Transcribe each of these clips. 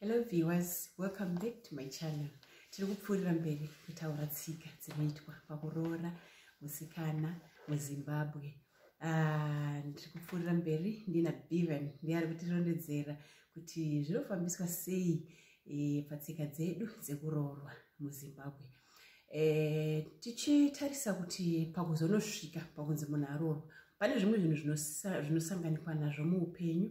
hello viewers welcome back to my channel tiri kupfuurira mberi kutaura tsika dzinoitwa pakuroora musikana muzimbabwe ah, ndiri kupfuurira mberi ndina bevan ndiye ari kutirondedzera kuti zvinofambiswa sei eh, patsika dzedu dzekuroorwa muzimbabwe eh, tichitarisa kuti pakuzonosvika pakunzi munhu aroorwa pane zvimwe zvinhu zvinosanganikwa nazvo muupenyu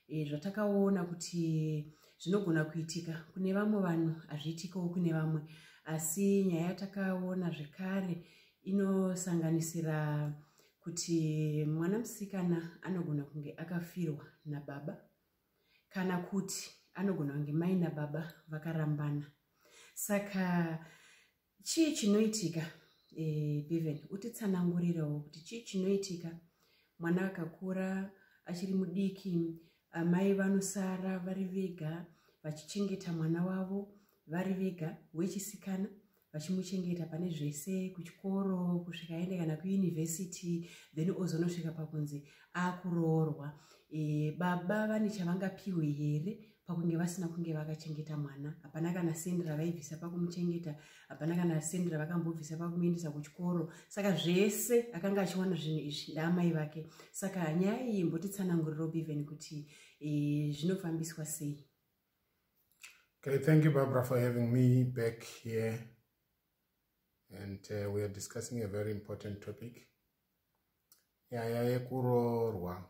e, zvatakaona kuti zvinogona kuitika kune vamwe vanhu hazviitikawo kune vamwe asi nyaya yatakaona zvekare inosanganisira kuti mwana musikana anogona kunge akafirwa nababa kana kuti anogona kunge mai nababa vakarambana saka chii chinoitika e, eh, beven utitsanangurirewo kuti chii chinoitika mwana akakura achiri mudiki amai vanosara vari vega vachichengeta mwana wavo vari vega wechisikana vachimuchengeta pane zvese kuchikoro kusvika aende kana kuyunivhesiti then ozonosvika pakunzi akuroorwa e, baba vane chavangapiwe here pakunge vasina kunge vakachengeta mwana hapana kana sendi ravaibvisa pakumuchengeta hapana kana sendi ravakambobvisa pakumuendesa kuchikoro saka zvese akanga achiwana zvinhu izvi ndaamai vake saka nyaya iyi mbotitsananguriro beven kuti e, zvinofambiswa sei okay thank you barbara for having me back here and uh, we are discussing a very important topic nyaya yekurorwa yeah, yeah,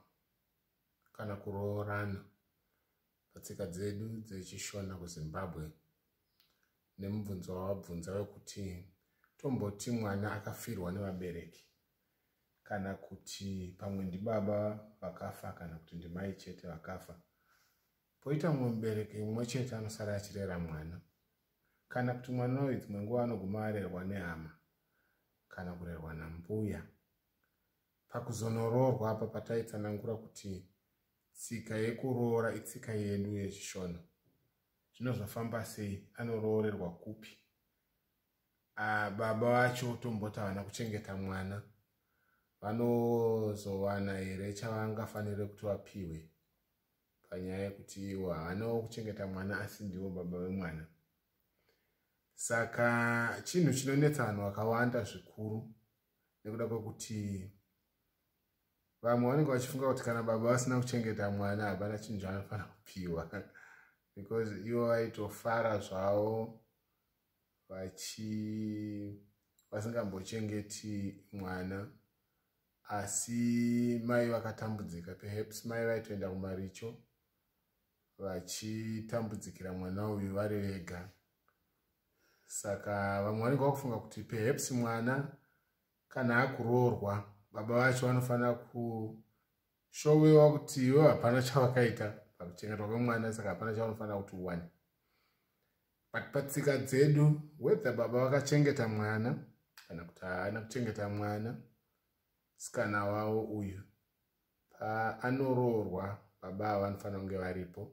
kana kuroorana patsika dzedu dzechishona kuzimbabwe nemubvunzo wavabvunza wekuti tomboti mwana akafirwa nevabereki kana kuti pamwe ndibaba vakafa kana kuti ndimai chete vakafa poita mumwe mubereki mumwe chete anosara achirera mwana kana kuti mwana uyu dzimwe nguva anoguma arerwa nehama kana kurerwa nambuya Pakuzonoroorwa apa pataitsanangura kuti tsika yekuroora itsika yedu yechishona. Zvino zvafamba sei? Anoroorerwa kupi? Ah, baba vacho tomboti havana kuchengeta mwana vanozowana here chavangafanire kuti vapiwe panyaya yekuti iwo havanawo kuchengeta mwana asi ndiwo baba vemwana saka chinhu chinonetsa vanhu vakawanda zvikuru nekuda kwekuti vamwe vanenge vachifunga kuti kana baba vasina kuchengeta mwana hapana chinhu chaanofanira kupiwa because ivo vaitofara zvavo vachi vasingambochengeti mwana asi mai vakatambudzika perhaps mai vaitoenda kumaricho vachitambudzikira mwana uyu vari vega saka vamwe vanenge vakufunga kuti perhaps mwana kana akuroorwa baba vacho vanofanira kushowewa kuti iwe hapana chavakaita pakuchengetwa kwemwana saka hapana chavanofanira kuti uwane but patsika dzedu whether baba vakachengeta mwana kana kuti haana kuchengeta mwana sikana wavo uyu paanoroorwa baba ava vanofanira kunge varipo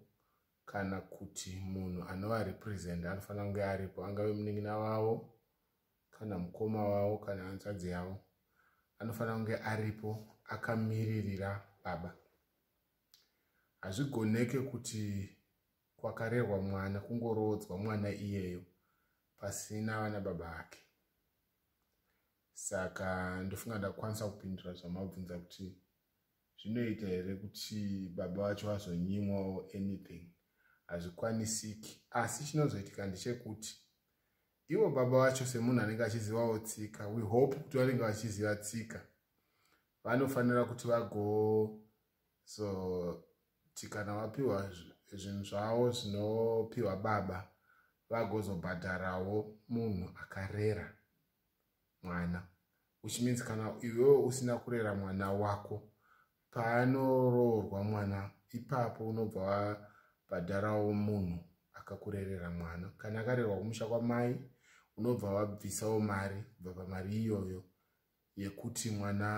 kana kuti munhu anova represent anofanira kunge aripo angave munin'ina wavo kana mukoma wavo kana hanzvadzi yavo anofanira kunge aripo akamiririra baba hazvigoneke kuti kwakarerwa mwana kungoroodzwa mwana iyeyo pasina vana baba vake saka ndofunga ndakukwanisa kupindura zvamabvunza kuti zvinoita here kuti baba vacho vazonyimwawo anything hazvikwanisiki asi chinozoitika ndechekuti ivo baba vacho semunhu anenge achizivawo tsika we hope kuti vanenge vachiziva tsika vanofanira kuti vagozoti kana vapiwa zvinhu zvavo zvinopiwa baba vagozobhadharawo munhu akarera mwana which means kana iwewe usina kurera mwana wako paanoroorwa mwana ipapo unobva wabhadharawo munhu akakurerera mwana kana akarerwa kumusha kwamai unobva wabvisawo mari kubva pamari iyoyo yekuti mwana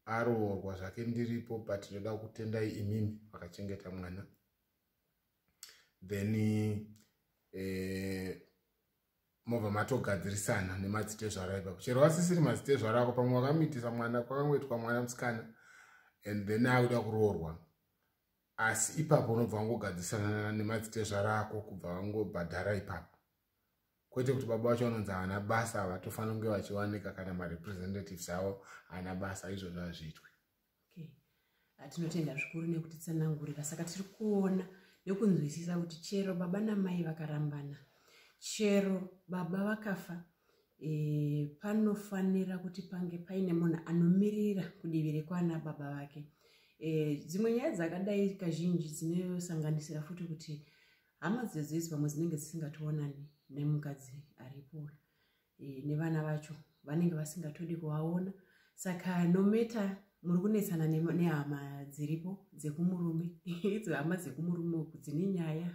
aroorwa zvake ndiripo but ndoda kutendai imimi vakachengeta mwana then eh, mobva matogadzirisana nemadzitezvaro aipa kuchero vasisiri madzitezvaro ako pamwe wakamitisa mwana kwakangoitwa mwana musikana and then akuda kuroorwa asi ipapo unobva wangogadzirisana nemadzitezvaro ako kubva vangobhadhara ipapo kwete kuti baba vacho vanonzi havana basa vatofanira kunge vachiwanika kana marepresentatives avo haana basa izvozvo hazviitwe okay atinotenda zvikuru nekuti tsanangurira saka tiri kuona nekunzwisisa kuti chero baba namai vakarambana chero baba vakafa e, panofanira kuti pange paine munhu anomirira kudivi rekwana baba vake e, dzimwe nyaya dzakadai kazhinji dzinosanganisira futi kuti hama dzedzizi pamwe dzinenge dzisingationani nemukadzi aripo e, nevana vacho vanenge vasingatodi kuvaona saka nometa muri kunetsana nehama dziripo dzekumurume idzo hama dzekumurume uku dzine nyaya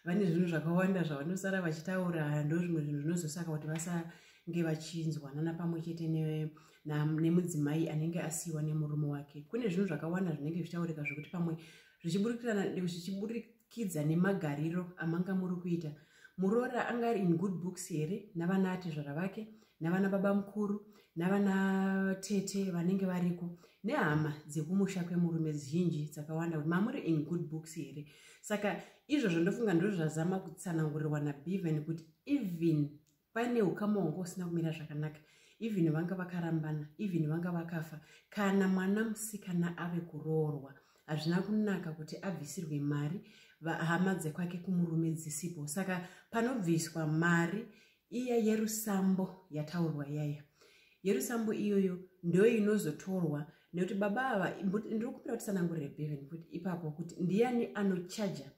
vane zvinhu zvakawanda zvavanosara vachitaura ndozvimwe zvinhu zvinozosaka kuti vasange vachinzwanana pamwe chete nemudzimai anenge asiyiwa nemurume wake kune zvinhu zvakawanda zvinenge zvichitaurika zvekuti pamwe zvichiburikira kidza nemagariro amanga muri kuita muroora anga ari in good books here navana atezvara vake navana baba mukuru navana tete vanenge variko nehama dzekumusha kwemurume zhinji dzakawanda kuti mamuri in good books here saka izvozvo ndofunga ndozvazama kutsanangurirwa nabeven kuti even paine ukama hwanga usina kumira zvakanaka even vanga vakarambana even vanga vakafa kana mwana musikana ave kuroorwa hazvina kunaka kuti abvisirwe mari hama dzekwake kumurume dzisipo saka panobviswa mari iya yerusambo yataurwa yaya yerusambo iyoyo ndoyo inozotorwa nekuti baba ava ndiri kupira kuti sanangurire beven kuti ipapo kuti ndiyani anochaja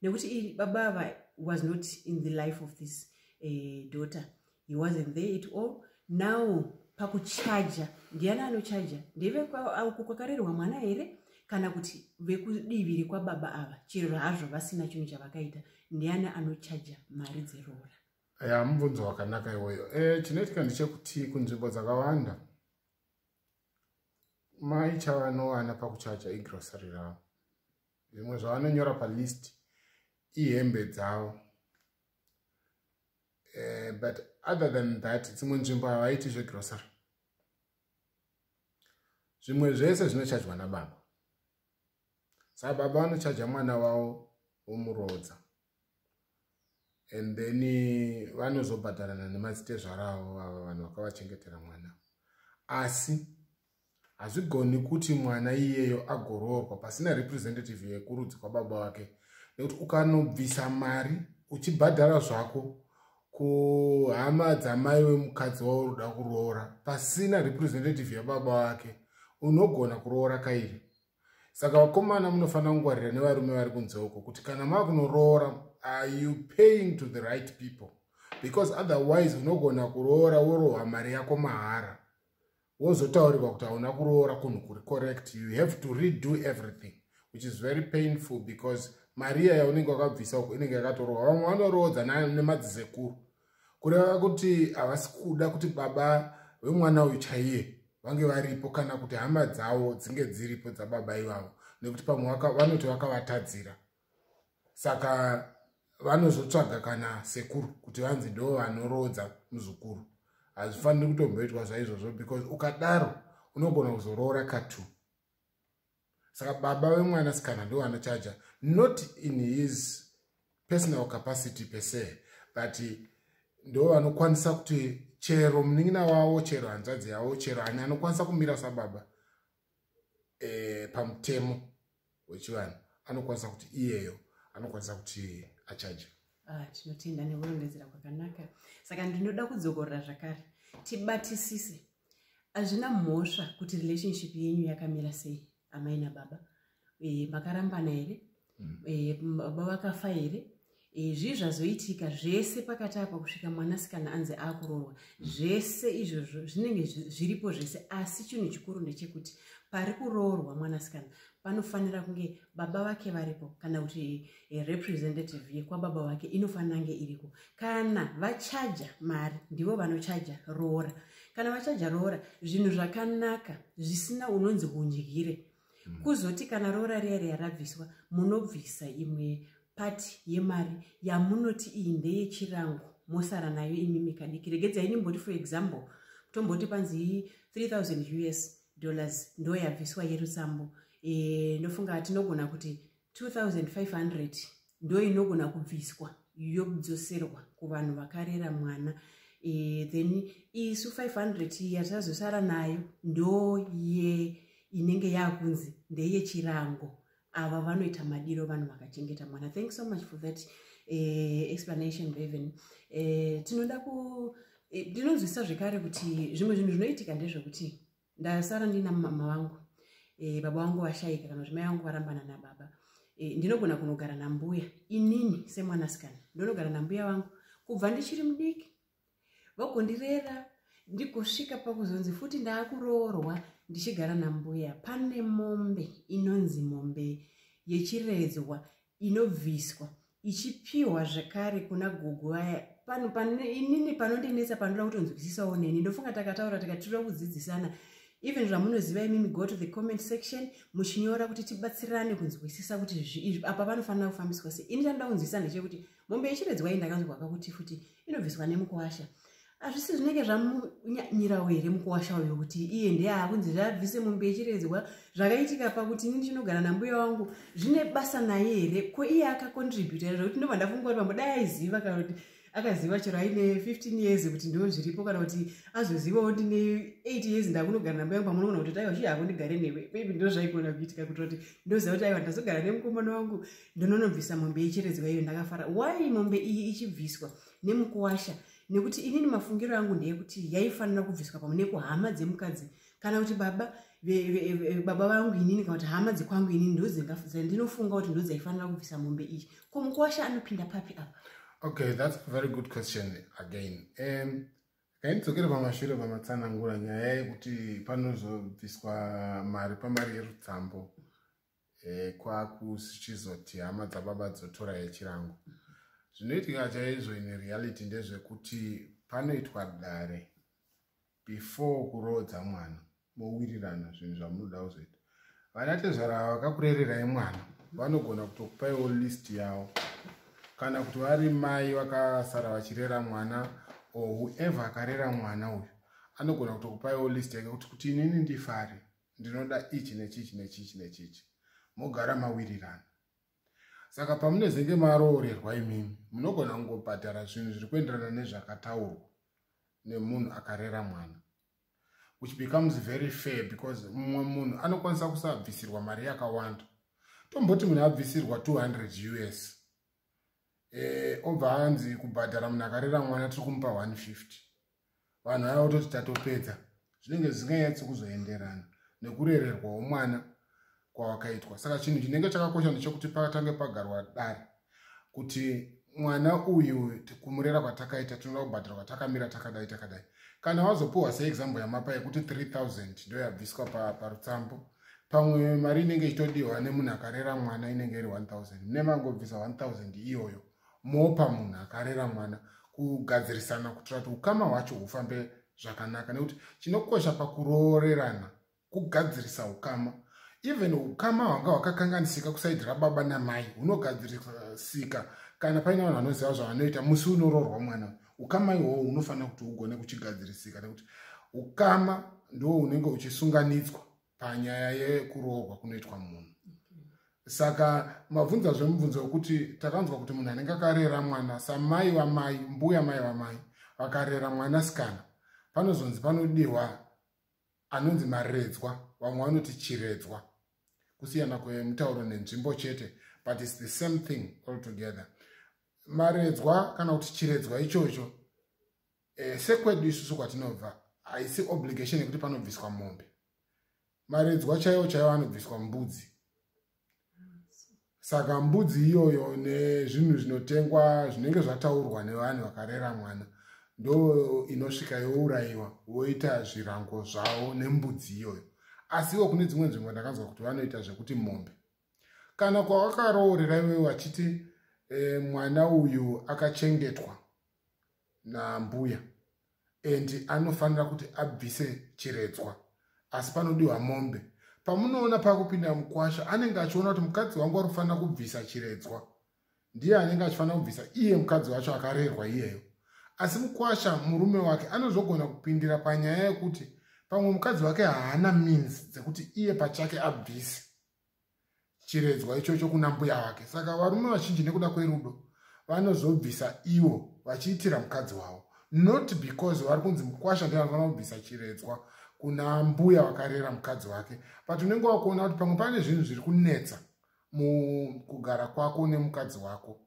nekuti baba ava was not in the life of this uh, daughter he wasn't there at all now pakuchaja ndiani anochaja ndeveuko kwakarerwa mwana here kana kuti vekudivi rekwababa ava chero hazvo vasina chinhu chavakaita ndiani anochaja mari dzeroora ya mubvunzo wakanaka iwoyo e, chinoitika ndechekuti kunzvimbo dzakawanda mai chavanowana pakuchaja igrosari ravo zvimwe zvavanonyora palist ihembe dzavo uh, but other than that dzimwe nzvimbo havaiti zvegrocery zvimwe zvese zvinochajwa nababa saka baba vanochaja mwana wavo womuroodza and then eh, vanozobhadharana nemadzitezvara avo vava vanhu vakavachengetera mwana asi hazvigoni kuti mwana iyeyo agoroorwa pasina representative yekurudzi kwababa wake nekuti ukanobvisa mari uchibhadhara zvako kuhama dzamai wemukadzi wauri uda kuroora pasina representative yababa wake unogona kuroora kairi saka vakomana munofanira kungwarira nevarume vari kunze uko kuti kana maa kunoroora are you paying to the right people because otherwise unogona kuroora worohwa mari yako mahara wozotaurirwa kuti hauna kuroora kunhu kuri correct you have to redo everything which is very painful because maria yaunenge wakabvisa uko inenge yakatorohwa vamwe vanoroodza nemadzisekuru kureva kuti havasi kuda kuti baba vemwana uyu chaiye vange varipo kana kuti hama dzavo dzinge dziripo dzababa ivavo nekuti pamwe vanoti vakavatadzira saka vanozotsvaga kana sekuru kuti vanzi ndo vanoroodza muzukuru hazvifaniri kutomboitwa zvaizvozvo because ukadaro unogona kuzoroora katu saka baba wemwana sikana ndo anochaja not in his personal capacity per se but ndo vanokwanisa kuti chero munin'ina wavo chero hanzvadzi yavo chero ani anokwanisa kumira sababa e, pamutemo wechivanhu anokwanisa kuti iyeyo anokwanisa kuti achaja ah, tinotenda nekurondedzera kwakanaka saka ndinoda kudzokorora zvakare tibatisise hazvina mhosva kuti relationship yenyu yakamira sei amai nababa eh, makarambana here mm. eh, baba vakafa here eh, zvii zvazoitika zvese pakati apa kusvika mwanasikana anzi akuroorwa mm. zvese izvozvo zvinenge zviripo zvese asi chinhu chikuru ndechekuti pari kuroorwa mwanasikana panofanira kunge baba vake varipo kana kuti eh, representative yekwababa vake inofanira nge iriko kana vachaja mari ndivo vanochaja roora kana vachaja roora zvinhu zvakanaka zvisina unonzi hundyire hmm. kuzoti kana roora riya riya rabviswa munobvisa imwe pati yemari yamunoti iyi ndeyechirango mosara nayo imimi kadiki regedzai ndimboti for example tomboti panzi 3000 us dollars ndoyabviswa yerutsambo e, ndofunga tinogona kuti 2500 ndo inogona kubviswa yodzoserwa kuvanhu vakarera mwana e, then isu 500 yatazosara nayo ndo ye inenge yakunzi ndeyechirango ava vanoita madiro vanhu vakachengeta mwana thank so much for that uh, explanation raven uh, tinoda ku eh, ndinonzwisisa uh, zvekare kuti zvimwe zvinhu zvinoitika ndezvekuti ndasara ndina mama vangu uh, baba vangu vashaika kana kuti mai vangu varambana nababa uh, ndinogona kunogara nambuya inini semwanasikana ndonogara nambuya vangu kubva ndichiri mudiki vagondirera ndigosvika pakuzonzi futi ndaakuroorwa ndichigara nambuya pane mombe inonzi mombe yechiredzwa inobviswa ichipiwa zvekare kuna gogo vaya inini panondinetsa panoda kutonzwisisawo neni ndofunga takataura tikatira kudzidzisana even zvamunoziva imimi go to the comment section muchinyora kuti tibatsirane kunzwisisa kuti apa panofanira kufambiswa sei ini tanoda kunzwisisa ndechekuti mombe yechiredzwa iyi ndakanzwa kakuti futi inobviswa nemukuwasha hazvisi zvinenge zvamunyanyirawo here mukuwasha uyo kuti iye ndeyaa kunzi zvaabvise mombe yechiredzwa zvakaitika pakuti inini chinogara nambuya wangu zvine basa naye here ko iye akakontributa here zvekuti ndobva ndafunga kuti pambo dai aiziva kana kuti akaziva chero aine 15 years kuti ndiwo zviripo kana kuti azozivawo ndine 8 years ndakunogara nambuya wangu pamunogona kuti taiwa zviya hako ndigare newe maybe ndozvaigona kuitika kuitira kuti ndoziva kuti aiwa ndazogara nemukomana wangu ndononobvisa mombe yecheredzwa iyo ndakafara why mombe iyi ichibviswa nemukuwasha nekuti inini mafungiro angu ndeyekuti yaifanira kubviswa pamwe nekuhama dzemukadzi kana kuti baba baba vangu inini kana kuti hama dzekwangu inini ndozendinofunga kuti ndodzaifanira kubvisa mombe iyi ko mukuwasha anopinda papi apa okay that's a very good question again um, kaindidzokera pamashure pamatsanangura nyaya yekuti panozobviswa mari pamari yerutsambo e, kwakuchizoti hama dzababa dzotora yechirango zvinoitika chaizvo in reality ndezvekuti panoitwa dare before kuroodza mwana mowirirana zvinhu zvamunoda kuzoita vana tezvara vakakurererai mwana vanogona kutokupaiwo list yavo kana kuti vari mai vakasara vachirera mwana or whoever akarera mwana uyu anogona kutokupaiwo list yake kuti kuti inini ndifare ndinoda ichi nechichi nechichi nechichi mogara mawirirana saka pamunezenge maroorerwa imimi munogona kungobhadhara zvinhu zviri kuenderana nezvakataurwa nemunhu akarera mwana which becomes very fair because mumwe munhu anokwanisa kusabvisirwa mari yakawanda tomboti munhu abvisirwa 200 us e, obva anzi kubhadhara munhu akarera mwana tiri kumupa 150 vanhu vaya vototi tatopedza zvinenge zvisinganyatsi kuzoenderana nekurererwawo mwana kwawakaitwa saka chinhu chinenge chakakosha ndechekuti pakatange pagarwa dare kuti mwana uyu kumurera kwatakaita tinoda kubhadhara kwatakamira takadai takadai kana wazopiwa seexample yamapa yekuti 3000 ndo yabviswa parutsambo pa pamwe mari inenge ichitodiwa nemunhu akarera mwana inenge iri 1000 mune mangobvisa 1000 iyoyo mopa munhu akarera mwana kugadzirisana kuitira kuti ukama hwacho hufambe zvakanaka nekuti chinokosha pakuroorerana kugadzirisa ukama even ukama hwanga hwakakanganisika kusaidi rababa namai hunogadzirisika kana paine vanhu vanoziva zvavanoita musi unoroorwa mwana ukama ihowo unofanira kuti ugone kuchigadzirisika nekuti ukama ndo unenge uchisunganidzwa panyaya yekuroorwa kunoitwa munhu saka mabvunza zvemubvunzo wekuti takanzwa kuti munhu anenge akarera mwana samai vamai mbuya mai vamai vakarera mwana sikana panozonzi panodiwa anonzi maredzwa vamwe vanoti chiredzwa kusiyana kwemutauro nenzvimbo chete but its the same thing all together maredzwa kana kuti chiredzwa ichocho e, sekwedu isusu kwatinobva haisi obligation yekuti panobviswa mombe maredzwa chaiwo chaiwo anobviswa mbudzi saka mbudzi iyoyo nezvinhu zvinotengwa zvinenge zvataurwa nevanhu vakarera mwana ndo inosvika yourayiwa woita zvirango zvavo nembudzi iyoyo asiwo kune dzimwe nzvimbo ndakanzwa kuti vanoita zvekuti mombe kana kwawakaroorera iwe vachiti e, mwana uyu akachengetwa nambuya and anofanira kuti abvise chiredzwa asi panodiwa mombe pamunoona pakupinda mukwasha anenge achiona kuti mukadzi wangu ari kufanira kubvisa chiredzwa ndiye anenge achifanira kubvisa iye mukadzi wacho akarerwa iyeyo asi mukwasha murume wake anozogona kupindira panyaya yekuti pamwe mukadzi wake haana means dzekuti iye pachake abvise chiredzwa ichocho kuna mbuya wake saka varume vazhinji nekuda kwerudo vanozobvisa ivo vachiitira mukadzi wavo not because vari kunzi mukwasha ndevanofanira kubvisa chiredzwa kuna mbuya vakarera mukadzi wake but unenge wakuona kuti pamwe pane zvinhu zviri kunetsa mukugara kwako nemukadzi wako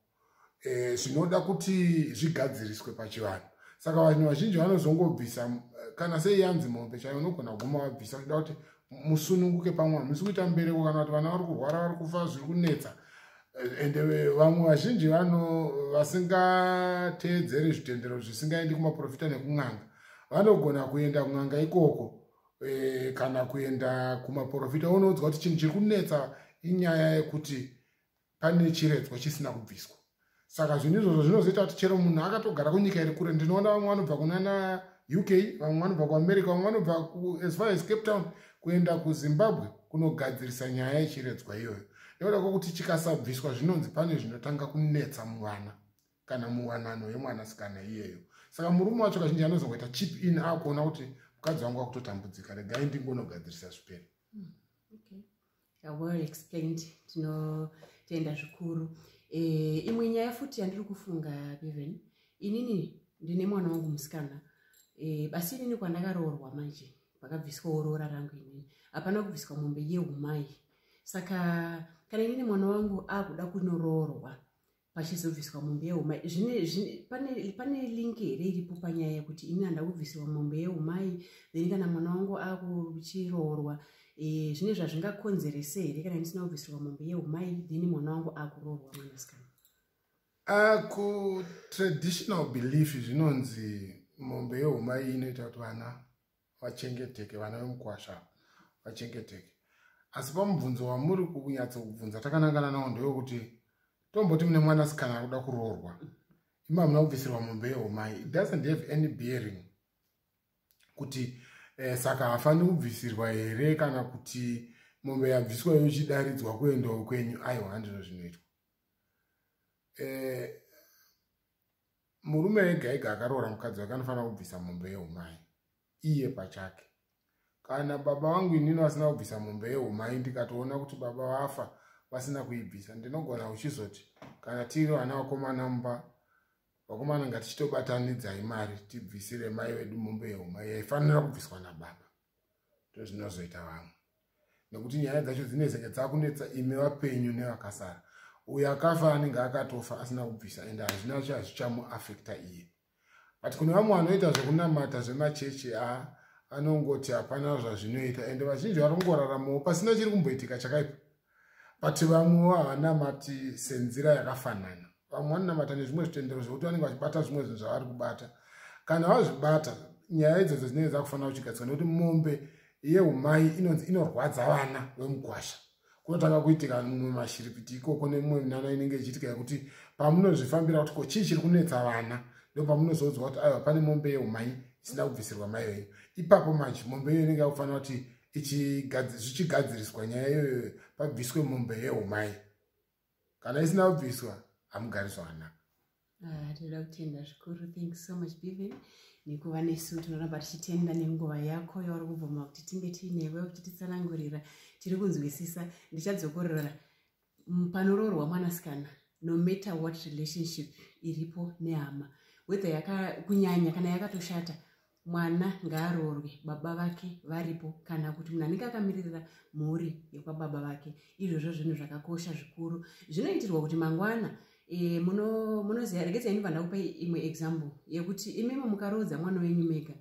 eh, zvinoda e, kuti zvigadziriswe pachivanhu saka vanhu vazhinji vanozongobvisa eh, kana sei yanzi mombe chaiyo unogona kuguma vabvisa uchida kuti musununguke pamwe hamusi kuita mbereko kana kuti vana vari kurwara vari kufa zviri kunetsa ende eh, vamwe vazhinji vano vasingateedzeri zvitendero zvisingaendi kumaprofita nekun'anga vanogona kuenda kun'anga ikoko e, kana kuenda kumaprofita unoudzwa kuti chinhu chiri kunetsa inyaya yekuti pane chiredzwa chisina kubviswa saka zvinhu izvozvo zvinozoita kuti chero munhu akatogara kunyika iri kure ndinoona vamwe vanobva kunana uk vamwe vanobva kuamerica vamwe vanobva as far as cape town kuenda kuzimbabwe kunogadzirisa nyaya yechiredzwa iyoyo nekuda kwokuti chikasabviswa zvinonzi pane zvinotanga kunetsa muvana kana muwanano yemwanasikana iyeyo saka murume wacho kazhinji anozongoita chip in akuona kuti mukadzi wangu akutotambudzika regai ndingonogadzirisa zvipere hmm, well explained tinotenda zvikuru eh, imwe nyaya futi yandiri kufunga beven inini ndine mwana wangu musikana eh, basi inini kwandakaroorwa manje kwakabviswawo roora rangu inini hapana kubviswa mombe yeumai saka kana inini mwana wangu akuda kunoroorwa pachizobviswa mombe yeumai pane link here iripo panyaya yekuti ini handa kubvisirwa mombe yeumai then kana mwana wangu akuchiroorwa eh, zvine zvazvingakonzerese here kana ndisina kubvisirwa mombe yeumai then mwana wangu akuroorwa mwanasikana ah, kutraditional belief zvinonzi mombe yeumai inoita kuti vana vachengeteke vana vemukwasha ava vachengeteke asi pamubvunzo wamuri kunyatso kubvunza takanangana nawo ndewekuti tomboti mune mwana sikana akuda kuroorwa ima hamuna kubvisirwa mombe yehomai it doesn't have any bearing kuti eh, saka hafaniri kubvisirwa here kana kuti mombe yabviswa yochidaridzwa kuendawo kwenyu aiwa handizvo zvinoitwa eh, murume ega ega akaroora mukadzi wake anofanira kubvisa mombe yeumai iye pachake kana baba vangu inini vasina kubvisa mombe yeumai ndikatoona kuti baba vafa vasina kuibvisa ndinogona uchizoti kana tiri vana vakomana mumba vakomana ngatichitobatanidzai mari tibvisire mai vedu mombe yeumai yaifanira kubviswa nababa ndozvinozoita vamwe nekuti nyaya dzacho dzinezenge dzakunetsa imi vapenyu nevakasara uyo akafa anenge akatofa asina kubvisa ende hazvina cho hazvichamuafekta iye but kune vamwe vanoita zvekunamata zvemachechi a anongoti hapana zvazvinoita ende vazhinji varongoraramawo pasina chiri kumboitika chakaipa but vamwewo havanamati senzira yakafanana vamwe vanonamata nezvimwe zvitendero zvekuti vanenge vachibata zvimwe zvinhu zvavari kubata kana vazvibata nyaya idzodzo dzinenge dzakufanira kuchigadzirwa nekuti mombe yeumai inonzi inorwadza vana vemugwasha kunotanga kuitika mumwe mashiripiti ikoko nemumwe minana inenge ichiitika yekuti pamunozvifambira kuti ko chii chiri kunetsa vana ndopamunozoudzwa kuti aiwa pane mombe yeumai isina kubvisirwa mai venyu ipapo manje mombe iyo inenge yakufanira kuti zvichigadziriswa nyaya iyoyo pabviswe mombe yeumai kana isina kubviswa hamugari zvakanaka ah, tinoda kutenda zvikuru thank you so much biven nekuva nesu tinoramba tichitenda nenguva yako yauri kubvuma kuti tinge tiinewe uchititsanangurira tiri kunzwisisa ndichadzokorora panoroorwa mwanasikana no matter what relationship iripo nehama whether yaka kunyanya kana yakatoshata mwana ngaaroorwe baba vake varipo kana kuti munhu anenge akamiririra mhuri yekwababa vake izvozvo zvinhu zvakakosha zvikuru zvinoitirwa kuti mangwana e, munoziva regedza ini vandakupa imwe example yekuti imimo mukaroodza mwana wenyu mega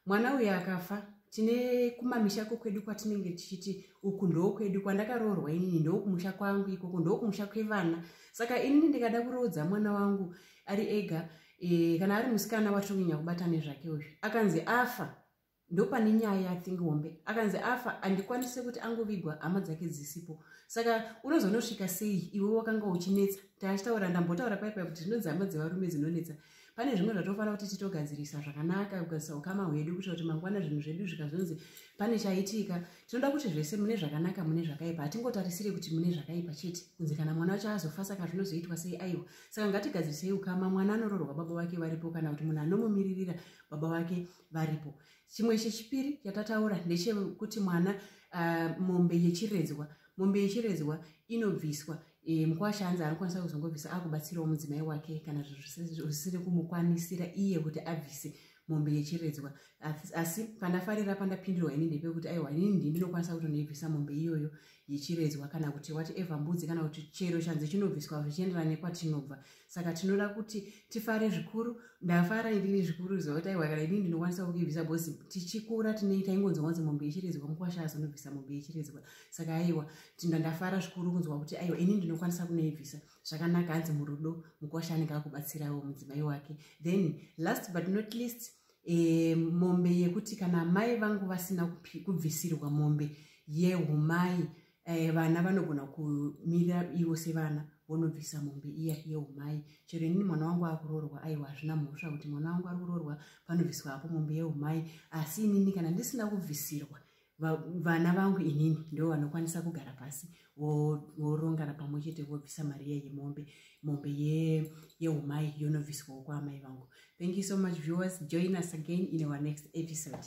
mwana uyu akafa tine kumamisha kokwedu kwatinenge tichiti uku ndokwedu kwandakaroorwa inini ndokumusha kwangu ikoko ndokumusha kwevana saka inini ndikada kuroodza mwana wangu ari ega e, kana ari musikana watonyanya kubata nezvake uzvi akanzi afa ndopane nyaya yathing hombe akanzi afa andikwanise kuti angovigwa hama dzake dzisipo saka unozonosvika sei iwe wakanga uchinetsa taachitaura ndambotaura paipa kuti zvinonzi hama dzevarume dzinonetsa pane zvimwe zvatofanira kuti titogadzirisa zvakanaka kugadzisa ukama hwedu kuita kuti mangwana zvinhu zvedu zvikazonzi pane chaitika tinoda kuti zvese mune zvakanaka mune zvakaipa hatingotarisire kuti mune zvakaipa chete kunzi kana mwana wacho azofa saka zvinozoitwa sei aiwa saka ngatigadzirisei ukama mwana anororwa baba vake varipo kana kuti munhu anomumiririra baba vake varipo chimwe chechipiri chatataura ndechekuti mwana uh, mombe yechiredzwa mombe yechiredzwa inobviswa e, mukwasha hanzi anokwanisa kuzongobvisa akubatsirawo mudzimai wake kana zvisiri kumukwanisira iye kuti abvise mombe yechiredzwa asi pandafarira pandapindurwa ini ndepekuti aiwa ini ndi ndinokwanisa kutonoibvisa mombe iyoyo yechiredzwa kana kuti whatever mbudzi kana kuti chero chanzi chinobviswa zvichienderana nekwatinobva so, saka tinoda kuti tifare zvikuru ndafara inini zvikuru ziva kuti aiwa kana inini ndinokwanisa kukibvisa bhozi tichikura tine taingonzwa kunzi mombe yechiredzwa mukwasha azonobvisa mombe yechiredzwa saka aiwa tinda ndafara zvikuru kunzwa kuti aiwa inini ndinokwanisa kunoibvisa zvakanaka hanzi murudo mukwasha anenge akubatsirawo mudzimai wake then last but not least e, mombe yekuti kana amai vangu vasina kubvisirwa mombe yehumai eh, vana vanogona kumira ivo sevana vonobvisa mombe iya yeumai chero inini mwana wangu akuroorwa aiwa hazvina mhosva kuti mwana wangu ari kuroorwa panobviswa apo mombe yeumai asi inini kana ndisina kubvisirwa vana vangu inini ndo vanokwanisa kugara pasi vorongana pamwe chete vobvisa mari iya yemombe mombe yeumai yonobviswawo kwaamai vangu thank you so much viewers join us again in our next episode